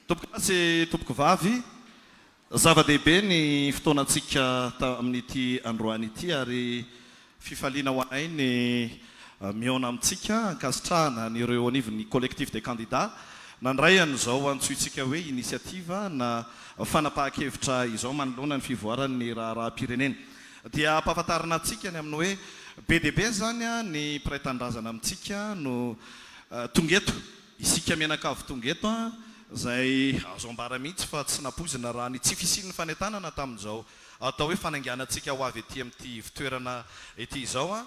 Tompoko lahy sy tompoko vavy, zava-dehibe ny fotoanantsika tamin'ity androany ity ary fifaliana ho anay ny mihaona amintsika ankasitrahana an'ireo ao anivon'ny Collectif des candidats nandray an'izao antsointsika hoe initiative na fanapahan-kevitra izao manoloana ny fivoaran'ny raharaham-pirenena. Dia ampahafantarina antsika ny amin'ny hoe be dia be izany ny mpiray tanindrazana amintsika no Tonga eto, isika mianakavy tonga eto an, izay azo ambara mihitsy fa tsy nampoizina raha ny tsy fisian'ny fanentanana tamin'izao atao hoe fanainganantsika ho avy ety amin'ity ivon-toerana ity izao an.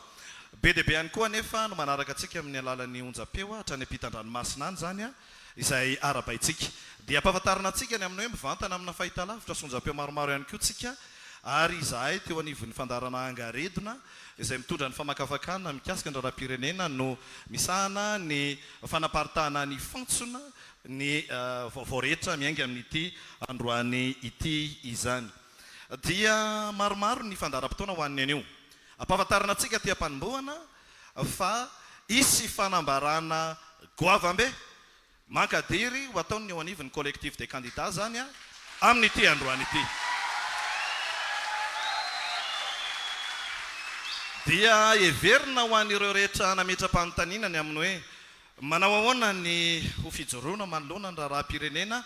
Be dia be ihany koa anefa no manaraka antsika amin'ny alalan'ny onjam-peo hatrany ampitan-dranomasina any izany an, izay arabaintsika. Dia ampahafantarina antsika ny amin'ny hoe mivantana amina fahitalavitra sy onjam-peo maromaro ihany koa tsika ary izahay teo anivon'ny fandaharana Angaredona, izay mitondra ny famakafakana mikasika ny raharaham-pirenena no misahana ny fanaparitahana ny fantsona ny vaovao rehetra miainga amin'ity androany ity izany. Dia maromaro ny fandaharam-potoana ho an'ny anio. Ampahafantarina antsika aty am-panombohana fa hisy fanambarana goavambe Mankadiry ho ataon'ny eo anivon'ny Collectif des candidats izany amin'ity androany ity. Dia heverina ho an'ireo rehetra nametra-panontaniana ny amin'ny hoe, Manao ahoana ny ho fijoroana manoloana ny raharaham-pirenena?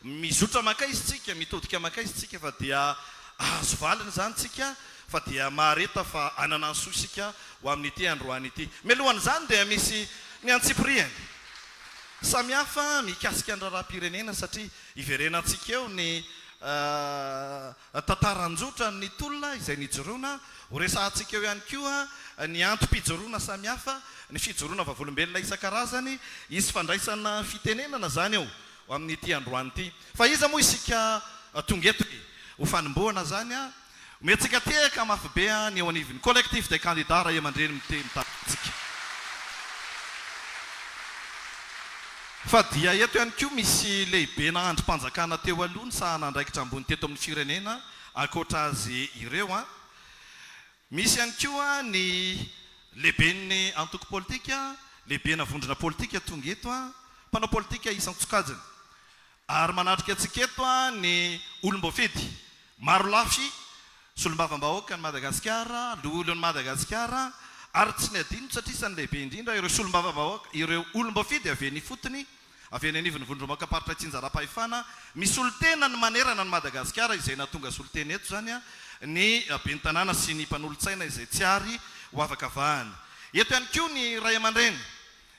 Mizotra mankaiza isika? Mitodika mankaiza isika? Fa dia hahazo valiny izany isika? Fa dia mahareta fa hanana ny soa isika ho amin'ity androany ity? Mialohan'izany dia misy ny antsipirihany. Samihafa mikasika ny raharaham-pirenena satria iverenantsika eo ny tantara an-jotra ny tolona izay nijoroana, ho resahantsika eo ihany koa ny antom-pijoroana samihafa, ny fijoroana vavolombelona isan-karazany, hisy fandraisana fitenenana izany eo amin'ity androany ity. Fa iza moa isika tonga eto e? Ho fanombohana izany an! Omentsika tehaka mafy be ny eo anivon'ny Collectif des candidats ray aman-dreny mite mitaky antsika. Fa dia eto ihany koa misy lehibena andrim-panjakana teo aloha nisahana andraikitra ambony teto amin'ny firenena ankoatra azy ireo an! Misy ihany koa ny lehiben'ny antoko politika, lehibena vondrona politika tonga eto an! Mpanao politika isan-tsokajiny. Ary manatrika antsika eto ny olom-boafidy marolafy, solombavambahoaka an'i Madagasikara, loholon'i Madagasikara, ary tsy ny adinony satria isan'ny lehibe indrindra ireo solombavambahoaka, ireo olom-boafidy avy eny ifotony, avy eny anivon'ny vondrombaokaparitra itsinjaram-pahefana misolotena ny manerana an'i Madagasikara, izay nahatonga solontena eto izany ny ben'ny tanàna sy ny mpanolotsaina izay tsy ary ho avakavahana. Eto ihany koa ny raiamandreny.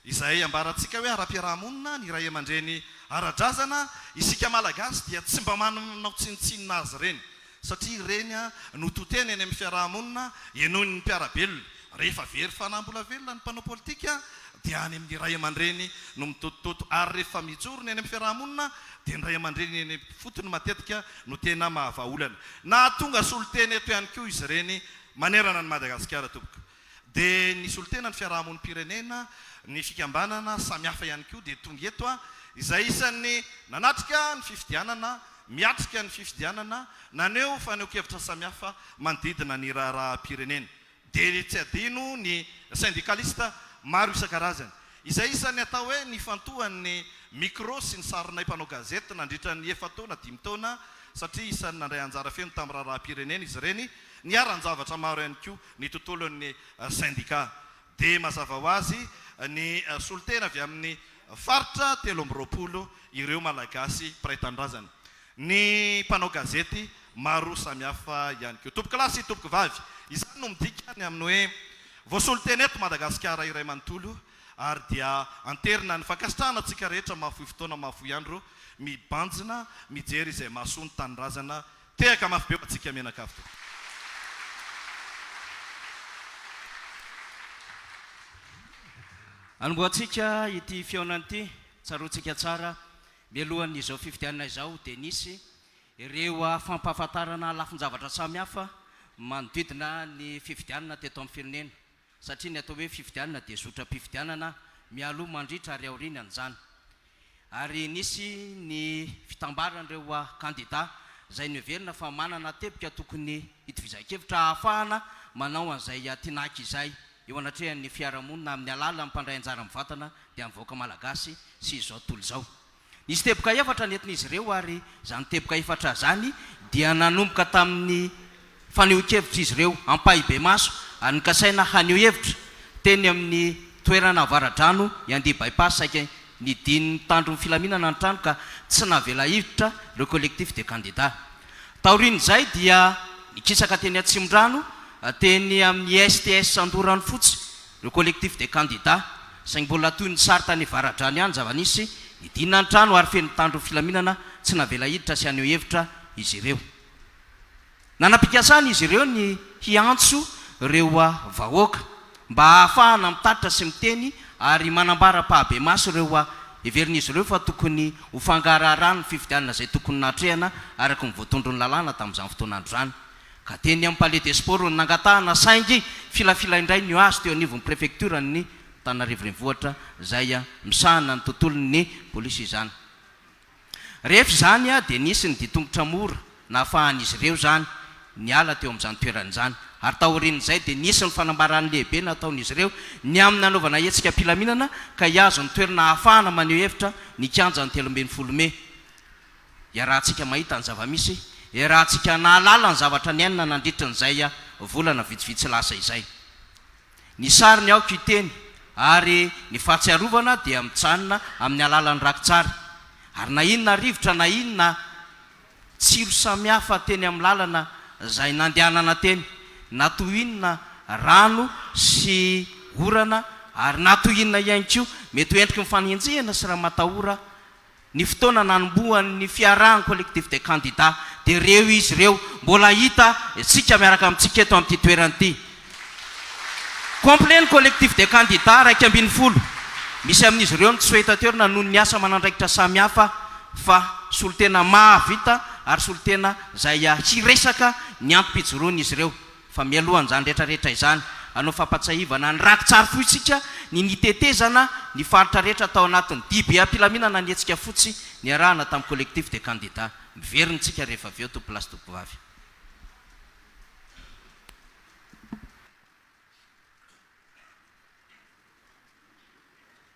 Izay ambarantsika hoe ara-piaraha-monina ny ray aman-dreny ara-drazana, isika Malagasy dia tsy mba manao tsinontsinona azy ireny, satria ireny no to tena eny amin'ny fiaraha-monina, henoin'ny mpiara-belona. Rehefa very fanambola velona ny mpanao politika dia any amin'ny ray aman-dreny no mitotototo, ary rehefa mijoro ny eny amin'ny fiaraha-monina dia ny ray aman-dreny eny ifotony matetika no tena mahavahaolana. Nahatonga solontena eto ihany koa izy ireny manerana an'i Madagasikara tompoko. Dia ny solontena, ny fiarahamonim-pirenena, ny fikambanana samihafa ihany koa dia tonga eto, izay isan'ny nanatrika ny fifidianana, miatrika ny fifidianana, naneho fanehoan-kevitra samihafa manodidina ny raharaham-pirenena. Dia tsy adino ny sendikalista maro isan-karazany, izay isan'ny atao hoe nifantohan'ny micro sy ny sarinay mpanao gazety nandritra ny efa-taona, dimy taona, satria isan'ny nandray anjara feno tamin'ny raharaham-pirenena izy ireny, niharan-javatra maro ihany koa. ny tontolon'ny sendika. Dia mazava ho azy, ny solontena avy amin'ny faritra telo amby roapolo ireo Malagasy mpiray tanindrazana, ny mpanao gazety maro samihafa ihany koa. Tompokolahy sy tompokovavy, izany no midika ny amin'ny hoe voasolontena eto Madagasikara iray manontolo, ary dia anterina ny fankasitrahana antsika rehetra mahafoy fotoana mahafoy andro mibanjina mijery izay mahasoa ny tanindrazana Tehaka mafy be ho antsika mianakavy tompoko. Anombohantsika ity fihaonana ity, tsaroantsika tsara, mialohan'izao fifidianana izao dia nisy ireo fampahafantarana lafin-javatra samihafa manodidina ny fifidianana teto amin'ny firenena. satria ny atao hoe fifidianana dia zotram-pifidianana mialoha, mandritra ary aorian' an'izany, ary nisy ny fitambaran'ireo kandida izay noheverina fa manana teboka tokony hitovizan-kevitra hahafahana manao an'izay tinaky izay eo anatrehan'ny fiarahamonina amin'ny alalan'ny mpandray anjara mivantana dia ny vahoaka malagasy sy izao tontolo izao. Nisy teboka efatra nentin'izy ireo ary izany teboka efatra izany dia nanomboka tamin'ny fanehoan-kevitr'izy ireo ampahibemaso ary nokasaina haneho hevitra teny amin'ny toerana avaradrano i Andia Bypass saika nidin'ny mpitandro ny filaminana ny trano ka tsy navela hiditra ireo collectif de candidats. Taorian'izay dia nikisaka teny Atsimondrano, teny amin'ny STS Andoranofotsy Le collectif des candidats, saingy mbola toy ny sary tany Avaradrano ihany ny zava-nisy, nidinina ny trano ary feno mpitandro ny filaminana tsy navela hiditra sy haneho hevitra izy ireo. Nanam-pikasana izy ireo ny hiantso ireo vahoaka mba hahafahana mitatitra sy miteny ary manambara am-pahabemaso ireo heverin'izy ireo fa tokony ho fangaraharahan'ny fifidianana izay tokony nahatrehana araka ny voatondron'ny lalàna tamin'izany fotoana andro izany Ka teny amin'ny Palais des Sports no nangatahana saingy filafila indray ny ho azy teo anivon'ny prefektioran'ny Antananarivo Renivohitra izay misahana ny tontolon'ny polisy izany. Rehefa izany dia nisy ny ditongotra mora nahafahan'izy ireo izany niala teo amin'izany toerana izany ary taorian'izay dia nisy ny fanambarany lehibe nataon'izy ireo ny amin'ny nanaovana hetsika am-pilaminana ka hihazo ny toerana ahafahana maneho hevitra ny kianjan'ny telo ambin'ny folo mey Iarahantsika mahita ny zava-misy, iarahantsika nahalala ny zavatra niainana nandritry ny izay volana vitsivitsy lasa izay. Ny sary ny aoka hiteny, ary ny fahatsiarovana dia mijanona amin'ny alalan'ny rakitsary, ary na inona rivotra na inona tsilo samihafa teny amin'ny lalana izay nandehanana teny, na toy inona rano sy orana, ary na toy inona ihany koa mety ho endriky ny fanenjehana sy ramatahora, Ny fotoana nanombohan'ny fiarahan'ny Collectif des candidats dia ireo izy ireo mbola hita tsika miaraka amintsika eto amin'ity toerana ity. Complet ny Collectif des candidats iraika ambin'ny folo. Misy amin'izy ireo no tsy soitaterina noho ny asa aman'andraikitra samihafa fa solontena mahavita ary solontena izay hiresaka ny antom-pijoroan'izy ireo. Fa mialoha an'izany rehetra rehetra izany, hanao fampatsiahivana ny raki-tsary fohintsika ny nitetezana ny faritra rehetra tao anatin'ny DBA am-pilaminana ny hetsika fotsy niarahana tamin'ny Collectif des Candidats. Miverina isika rehefa avy eo, Tompo lahy sy Tompo vavy.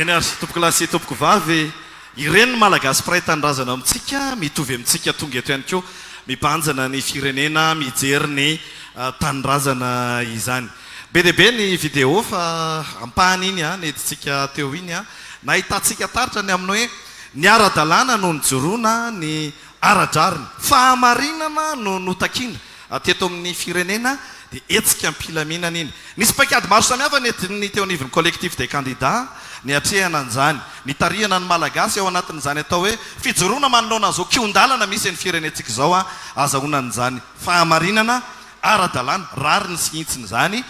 Eny ary tompokolahy sy tompokovavy e! Ireny ny Malagasy mpiray tanindrazana amintsika, mitovy amintsika tonga eto ihany koa mibanjina ny firenena mijery ny tanindrazana izany. Be dia be ny vidéo fa ampahany iny an, nidintsika teo iny an, nahitantsika taratra ny amin'ny hoe ny ara-dalàna no nijoroana ny ara-drariny. Fahamarinana no notakiana raha teto amin'ny firenena dia hetsika am-pilaminana iny. Nisy paikady maro samihafa nentiny teo anivon'ny Collectif des candidats niatrehana an'izany. Nitarihana ny Malagasy ao anatin'izany atao hoe fijoroana manoloana izao kihon-dalana misy an'ny firenentsika izao an, azahoana an'izany fahamarinana ara-dalàna, rariny sy hintsiny izany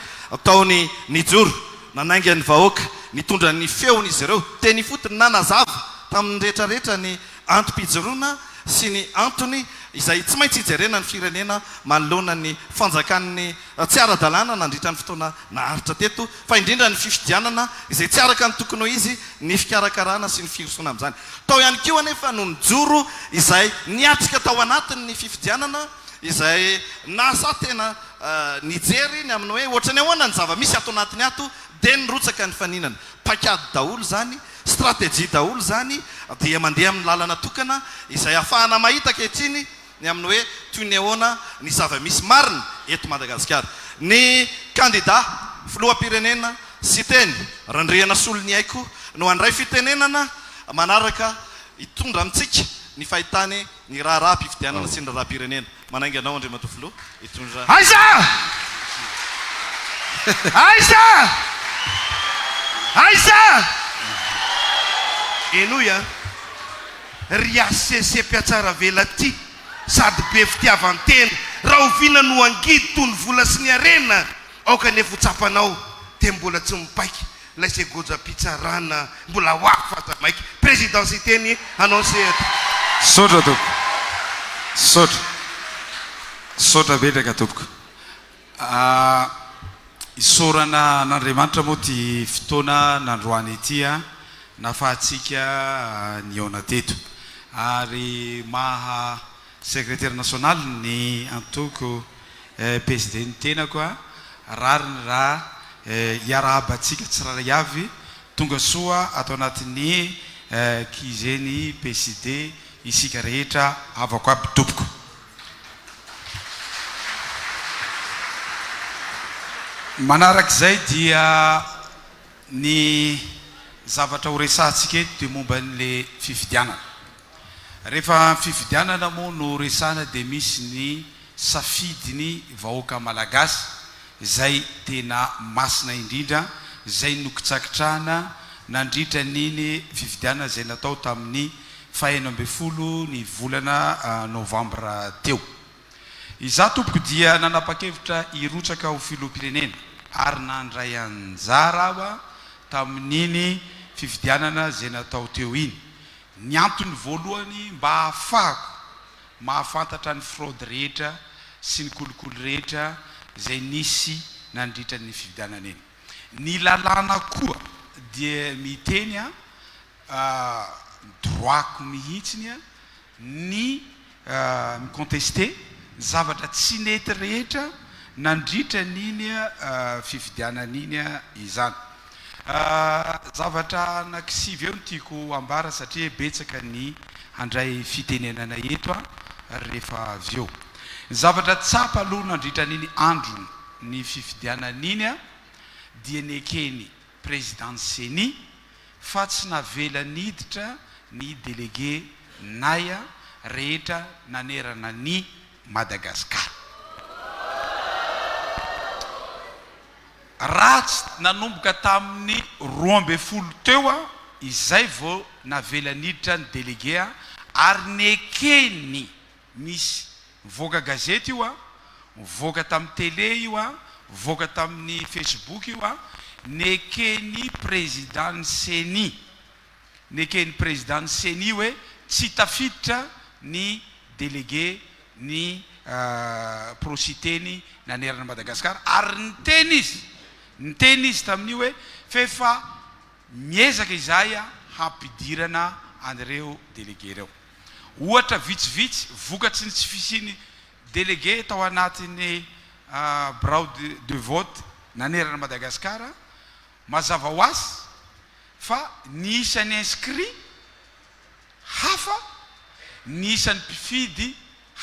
tao ny nijoro nanainga ny vahoaka, nitondra ny feony izy ireo teny ifotony, nanazava tamin'ny rehetra rehetra ny antom-pijoroana sy ny antony izay tsy maintsy hijerena ny firenena manoloana ny fanjakan'ny tsy ara-dalàna nandritra ny fotoana naharitra teto, fa indrindra ny fifidianana izay tsy araka ny tokony ho izy, ny fikarakarana sy ny firosoana amin'izany. Tao ihany koa anefa no nijoro izay niatrika tao anatin'ny fifidianana, izay nasa tena nijery ny amin'ny hoe ohatran'ny ahoana ny zava-misy ato anatiny ato dia nirotsaka ny faninana. Paikady daholo izany, stratégie daholo izany dia mandeha amin'ny lalana tokana izay ahafahana mahita ankehitriny ny amin'ny hoe toy ny ahoana ny zava-misy marina eto Madagasikara. Ny kandida filoham-pirenena Siteny Randrianasoloniaiko no handray fitenenana manaraka hitondra amintsika ny fahitany Ny raharaham-pifidianana sy ny raharaham-pirenena. Manainga anao Andriamatoa Filoha hitondra. Aiza? Aiza? Aiza? Henoy a! Ry HCC mpiatsara velatia sady be fitiavan-tena, rahoviana no hangidy toy ny vola sy ny harena? Aoka anefa ho tsapanao dia mbola tsy mipaika Ilay segojam-pitsarana mbola ho afa aza maika. Président Siteny hanao ny sehatra. Misaotra tompoko. Misaotra. Misaotra betsaka tompoko. Isaorana an'Andriamanitra moa ity fotoana nandroany ity nafahantsika nihaona teto. Ary maha. Sekretera nasionaly ny antoko PSD ny tenako a! rariny raha hiarahabantsika tsirairay avy tonga soa ato anatin'ny QG ny PSD isika rehetra havako aby tompoko. Manarak'izay dia ny zavatra horesahantsika eto dia momba an'ilay fifidianana. Rehefa fifidianana moa no resahana dia misy ny safidiny vahoaka malagasy izay tena masina indrindra izay nokitsakitrahana nandritra an'iny fifidianana izay natao tamin'ny fahenina ambin'ny folo ny volana novambra teo. Izaho tompoko dia nanapa-kevitra hirotsaka ho filoham-pirenena ary nandray anjara aho tamin'iny fifidianana izay natao teo iny Ny antony voalohany mba hahafahako mahafantatra ny fraude rehetra sy ny kolikoly rehetra izay nisy nandritra ny fifidianana iny. Ny lalàna koa dia miteny a, droit-ko mihitsiny a, ny mi-contester ny zavatra tsy nety rehetra nandritra an'iny fifidianana iny izany. Zavatra anakisivy eo no tiako ambara satria betsaka ny handray fitenenana eto rehefa avy eo. Ny zavatra tsapa aloha nandritra an'iny andron'ny fifidianana iny dia ny ekeny Prezidan'ny Ceni, fa tsy navelany hiditra ny delege Naya rehetra nanerana an'i Madagasikara. Ratsy nanomboka tamin'ny roa ambin'ny folo teo izay vao navelany hiditra ny delege ary nekeny. Nisy. Nivoaka gazety io an, nivoaka tamin'ny tele io an, nivoaka tamin'ny facebook io an, neken'ny Prezidan'ny Ceni, neken'ny Prezidan'ny Ceni hoe tsy tafiditra ny delege ny pro-Siteny nanerana an'i Madagasikara ary niteny izy, niteny izy tamin'io hoe f'efa miezaka izahay hampidirana an'ireo delege ireo. Ohatra vitsivitsy vokatry ny tsy fisian'ny délégué tao anatin'ny birao de vote nanerana an'i Madagasikara, mazava ho azy fa ny isan'ny inscrits hafa, ny isan'ny mpifidy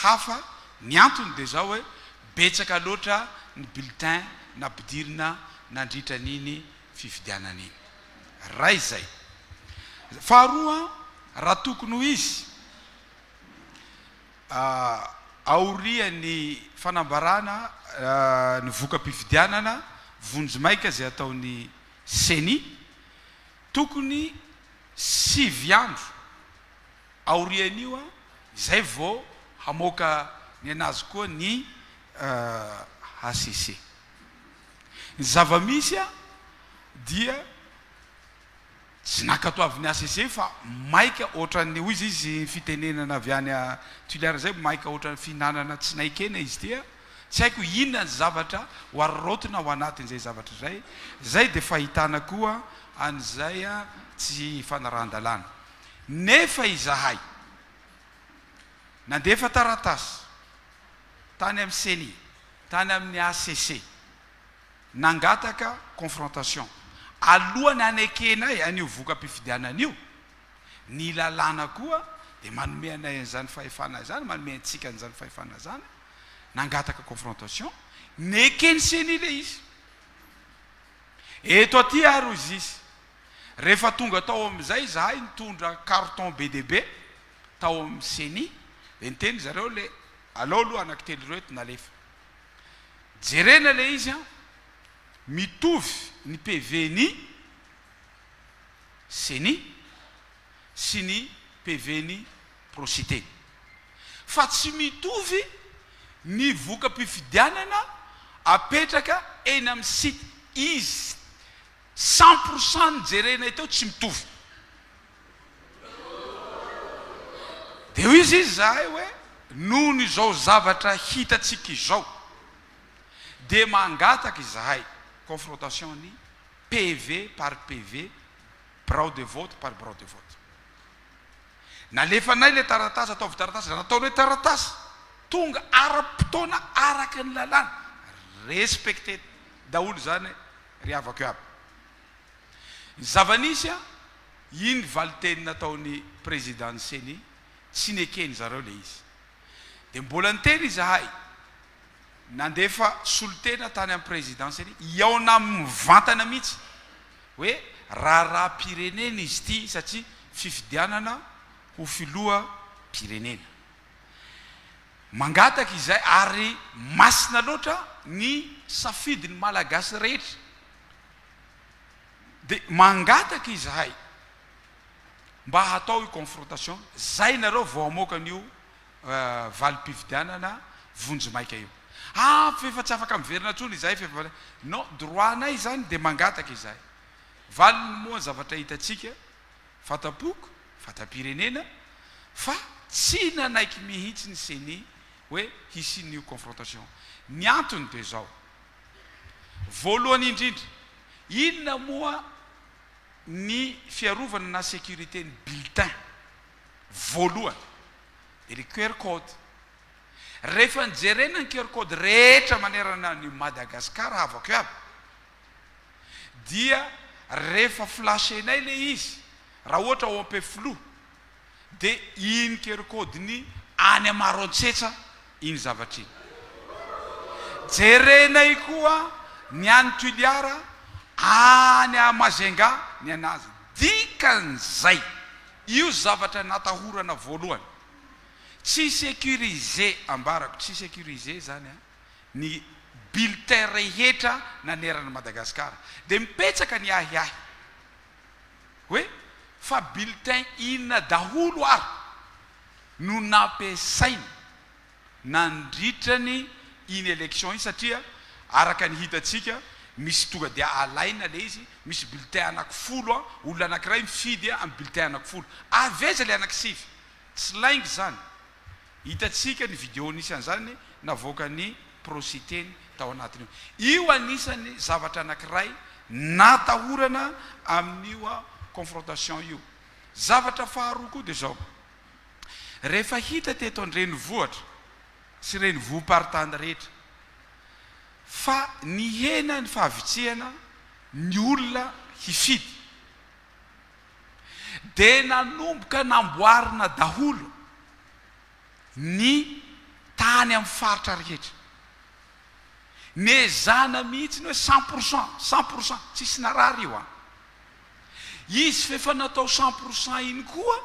hafa, ny antony dia izao hoe betsaka loatra ny bulletins nampidirina nandritra an'iny fifidianana iny. Ray izay. Faharoa, raha tokony ho izy, aorian'ny fanambarana ny voka-pifidianana, vonjimaika izay ataon'ny Ceni, tokony sivy andro aorian'io izay vao hamoaka ny an'azy koa ny hcc. Ny zava-misy dia tsy nankatoavin'ny HCC fa maika ohatran'ny hoy izy fitenenana avy any Toliara izay maika ohatran'ny fihinanana tsy nain-kena izy ity a! Tsy haiko inona ny zavatra ho araraotina ao anatin'izay zavatra izay, izay dia fahitana koa an'izay tsy fanarahan-dalàna. Nefa izahay nandefa taratasy. tany amin'ny Ceni, tany amin'ny HCC, nangataka confrontation, alohan'ny hanekenay an'io voka-pifidianana io, ny lalàna koa dia manome anay an'izany fahefana izany, manome antsika an'izany fahefana izany, nangataka confrontation, neken'ny Ceni ilay izy. Eto aty ary hoy izy, rehefa tonga tao amin'izay izahay nitondra carton be dia be, tao amin'ny ceni dia niteny zareo le alao aloha anaky telo ireo eto nalefa jerena le izy an mitovy ny pv ny ceni sy ny pv ny procite fa tsy mitovy ny voka-pifidianana apetraka eny amin'ny site izy cent pourcent ny jerena teo tsy mitovy Dia hoizy izy izahay hoe, Nohon' izao zavatra hitantsika izao, dia mangataka izahay, confrontation ny PV par PV, birao de vote par birao de vote. Nalefanay ilay taratasy, ataovy taratasy, raha nataonay taratasy, tonga ara-potoana araka ny lalàna, respecter daholo izany ry havako iaby. Ny zava-nisy an, iny valinteny nataon'ny Prezidan'ny Ceni, tsy neken-dry zareo ilay izy. Dia mbola niteny izahay, nandefa solontena tany amin'ny Prezidan'ny Ceni, hihaona aminy mivantana mihitsy, hoe raharaham-pirenena izy ity satria fifidianana ho filoham-pirenena. Mangataka izahay ary masina loatra ny safidin'ny Malagasy rehetra. Dia mangataka izahay mba hatao io confrontation zay nareo vao hamoaka an'io valim-pifidianana vonjimaika io. Ah fa efa tsy afaka miverina intsony izahay fa efa. Non, droit-nay izany dia mangataka izahay. Valiny moa ny zavatra hitantsika, fanta-poko, fanta-pirenena, fa tsy nanaiky mihitsy ny ceni hoe hisian'io confrontation. Ny antony dia izao, Voalohany indrindra, inona moa ny fiarovana na sécurité ny bulletin? Voalohany, dia ilay QR code. Rehefa nijerena ny QR code rehetra manerana an'i Madagascar havako iaby, dia rehefa flashenay ilay izy, raha ohatra ao Ampefiloha, Dia iny kerikody ny any Maroantsetra iny zavatra iny. Jerenay koa ny any Tuliara, any Majunga ny anazy. Dikan'izay, io zavatra natahorana voalohany. Tsy sécurisé ambarako, tsy sécurisé izany an, ny bulletin rehetra naneran'i Madagasikara. Dia mipetsaka ny ahiahy. hoe fa bulletin inona daholo ary no nampiasaina nandritra ny iny election iny satria araka ny hitantsika misy tonga dia alaina le izy misy bulletin anaky folo an, olona anakiray mifidy an bulletin anaky folo avy aiza le anaky sivy? tsy lainga izany Hitantsika ny video anisan'izany navoakan'i Pro Siteny tao anatiny ao. Io anisan'ny zavatra anankiray natahorana amin'io confrontation io. Zavatra faharoa koa dia izao, rehefa hita teto an-drenivohitra sy renivohim-paritany rehetra fa nihena ny fahavitrihana ny olona hifidy, Dia nanomboka namboarina daholo ny tany amin'ny faritra rehetra. Nezahina mihitsy ny hoe cent pour cent, cent pour cent, tsisy narary io an! Izy f'efa natao cent pour cent iny koa,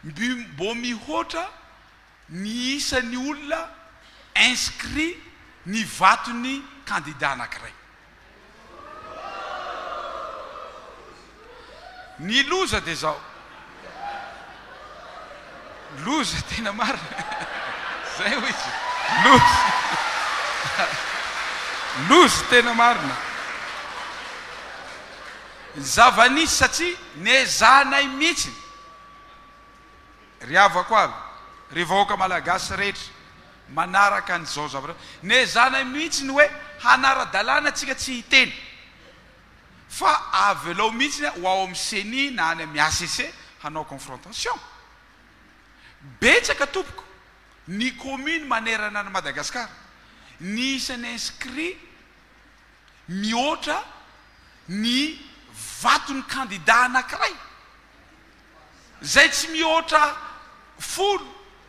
mbo mihoatra, Ny isan'ny olona inscrit ny vaton'ny kandida anankiray. Ny loza dia izao. Loza tena marina. Izay hoy izy. Loza. Loza tena marina. Ny zava-nisy satria nezahanay mihitsy. Ry havako avy, ry vahoaka Malagasy rehetra, manaraka an'izao zavatra izao. Nehezahanay mihitsy ny hoe hanara-dalàna tsika tsy hiteny. Fa avelao mihitsy ho ao amin'ny ceni na any amin'ny HCC hanao confrontation. Betsaka tompoko ny commune manerana an'i Madagascar, ny isan'ny inscrit mihoatra ny vaton'ny candidat anankiray. izay tsy mihoatra folo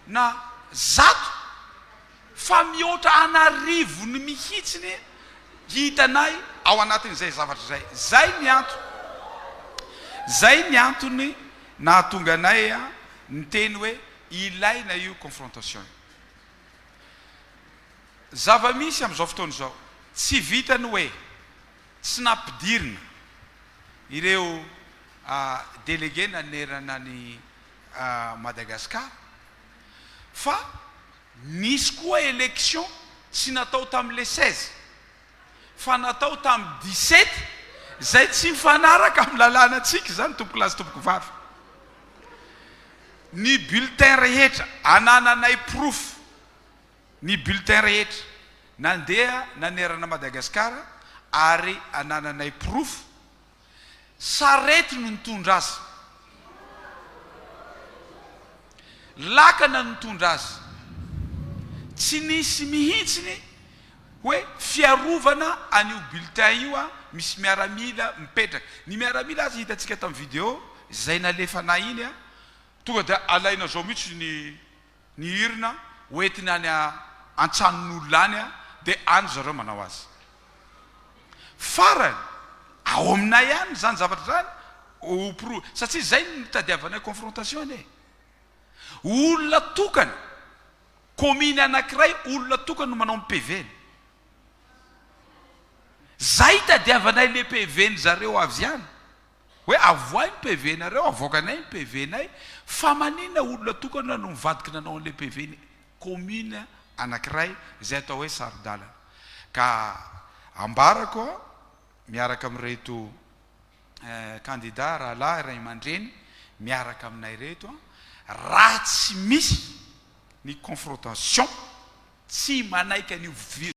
na zato fa mihoatra an'arivony mihitsiny hitanay ao anatin'izay zavatra izay. Izay ny antony, izay ny antony nahatonga anay niteny hoe ilaina io confrontation io. Zava-misy amin'izao fotoana izao, tsy vitan'ny hoe Tsy nampidirina ireo delege nanerana an'i Madagasikara fa nisy koa election tsy natao tamin'ny le seize fa natao tamin'ny dix sept izay tsy mifanaraka amin'ny lalànantsika izany tompoko lahy sy tompoko vavy. Ny bulletin rehetra anananay porofo Ny bulletin rehetra nandeha nanerana Madagasikara ary anananay porofo, sarety no nitondra azy, lakana no nitondra azy, tsy nisy mihitsy ny hoe fiarovana an'io bulletin io an, misy miaramila mipetraka, ny miaramila aza hitantsika tamin'ny video izay nalefanay iny an, tonga dia alaina zao mihitsy ny. Ny hirina hoentiny any an-tranon'olona any dia any zareo manao azy. Farany, ao aminay any izany zavatra izany hopro, satria izay no nitadiavanay confrontation e! Olona tokana, commune anankiray olona tokana no manao ny PV-ny. Izay itadiavanay ilay PV-ny zareo avy any. Hoe avohay ny PV nareo, avoakanay ny PV nay, fa manina olona tokana no mivadiky nanao an'ilay PV ny commune anakiray izay atao hoe saro-dalana. Ka ambarako miaraka amin'ireto candidats rahalahy ray aman-dreny miaraka aminay ireto, raha tsy misy ny confrontation, tsy manaiky an'io